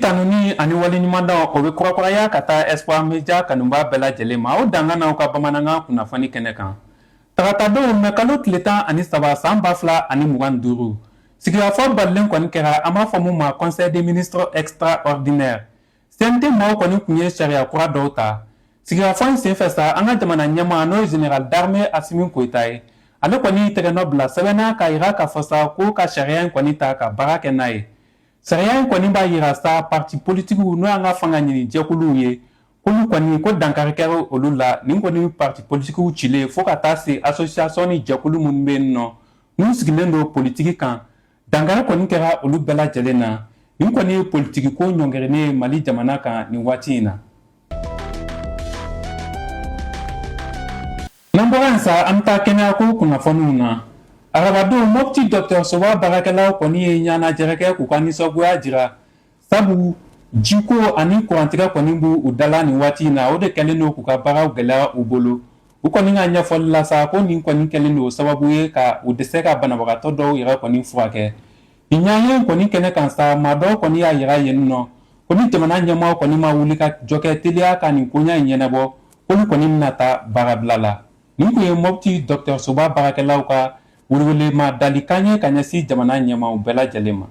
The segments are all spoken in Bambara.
tanuni ani waleɲumandɔn o bɛ kurakuraya ka taa espoir media kanubaa bɛɛ lajɛlen ma o dankan n'aw ka bamanankan kunnafoni kɛnɛ kan taratadon mɛ kalo tile tan ani saba san ba fila ani mugan duuru sigikafɔ balilen kɔni kɛra an b'a fɔ min ma conseil des ministres extraordinaire CNT maaw kɔni tun ye sariya kura dɔw ta sigikafɔ in senfɛ sa an ka jamana ɲɛmaa n'o ye général d'armée Assimi Goïta ye ale kɔni y'i tɛgɛnɔ bila sɛbɛn na k'a yira k'a fɔ sa ko ka sariya in kɔni ta ka baara kɛ n'a ye sariya in kɔni b'a yira sa parti politikiw n'o y'an ka fanga ɲini jɛkuluw ye k'olu kɔni ko dankari kɛra olu la nin kɔni parti politikiw cilen fo ka taa se association ni jɛkulu minnu bɛ yen nɔ n'u sigilen don politiki kan Dankari kɔni kɛra olu bɛɛ lajɛlen na nin kɔni ye politikiko ɲɔngirinen ye Mali jamana kan nin waati in na. N'an bɔra yen sa, an bɛ taa kɛnɛyako kunnafoniw na. Arabadon, Mopti dɔgɔtɔrɔsoba baarakɛlaw kɔni ye ɲɔgɔnlajɛrɛ kɛ k'u ka nisɔngoya jira sabu jiko ani kurantigɛ kɔni b'u da la nin waati in na o de kɛlen don k'u ka baaraw gɛlɛya u bolo u kɔni ka ɲɛfɔli la sa ko nin kɔni kɛlen don sababu ye ka u dɛsɛ ka banabagatɔ dɔw yɛrɛ kɔni furakɛ nin ɲɔgɔnye kɔni kɛnɛ kan sa maa dɔw kɔni y'a yira yen nɔ ko ni jamana ɲɛmɔgɔw kɔni ma wulikajɔ kɛ teliya ka nin koɲa in ɲɛnabɔ olu kɔni bɛna taa baarabila la nin tun ye mɔpti dɔgɔtɔrɔsoba baarakɛlaw ka Welewelema dalikan ye ka ɲɛsin jamana ɲɛmaaw bɛɛ lajɛlen ma.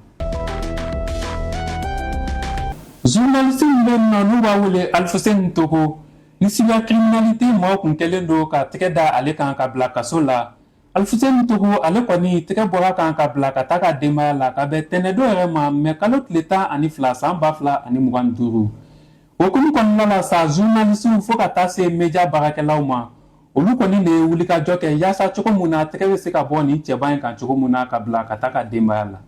Journaliste min bɛ yen nɔ n'u b'a wele Alfuseni Togo, ni cybercriminalité mɔɔw tun kɛlen don ka tɛgɛ da ale kan k'a bila kaso la. Alfuseni Togo, ale kɔni tɛgɛ bɔr'a kan k'a bila ka taa a ka denbaya la ka bɛn tɛnɛndon yɛrɛ ma mɛ kalo tile tan ani fila san ba fila ani mugan ni duuru. O hukumu kɔnɔna la sa zurunalisiw fo ka taa se media baarakɛlaw ma olu kɔni de ye wulikajɔ kɛ yaasa cogo min na tɛgɛ bɛ se ka bɔ nin cɛba in kan cogo min na k'a bila ka taa a ka denbaya la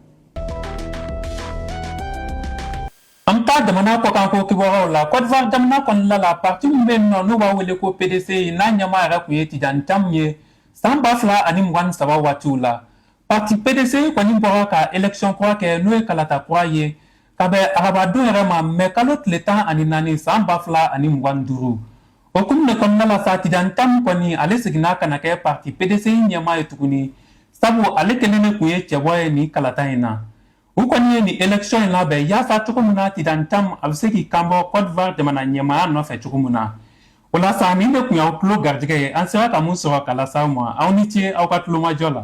an bɛ taa jamana kɔkan ko kibaruyaw la kɔdiwari jamana kɔnɔna la parti min bɛ yen nɔ n'u b'a wele ko pdci n'a ɲɛmaa yɛrɛ tun ye Tidjane Thiam ye san ba fila ani mugan ni saba waatiw la parti pdci kɔni bɔra ka election kura kɛ n'o ye kalata kura ye Ka bɛn arabadon yɛrɛ ma mɛ kalo tile tan ani naani san ba fila ani mugan duuru o hukumu de kɔnɔna la sa Tidjane Thiam kɔni ale seginna ka na kɛ parti pdci ɲɛmaa ye tuguni sabu ale kelen de tun ye cɛbɔ ye nin kalata in na u kɔni ye nin election in labɛn yaasa cogo min na Tidjane Thiam a bɛ se k'i kanbɔ kɔdiwari jamana ɲɛmaaya nɔfɛ cogo min na O la sa nin de tun y'aw tulo garijɛgɛ ye an sera ka mun sɔrɔ k'a lase aw ma aw ni ce aw ka tulomajɔ la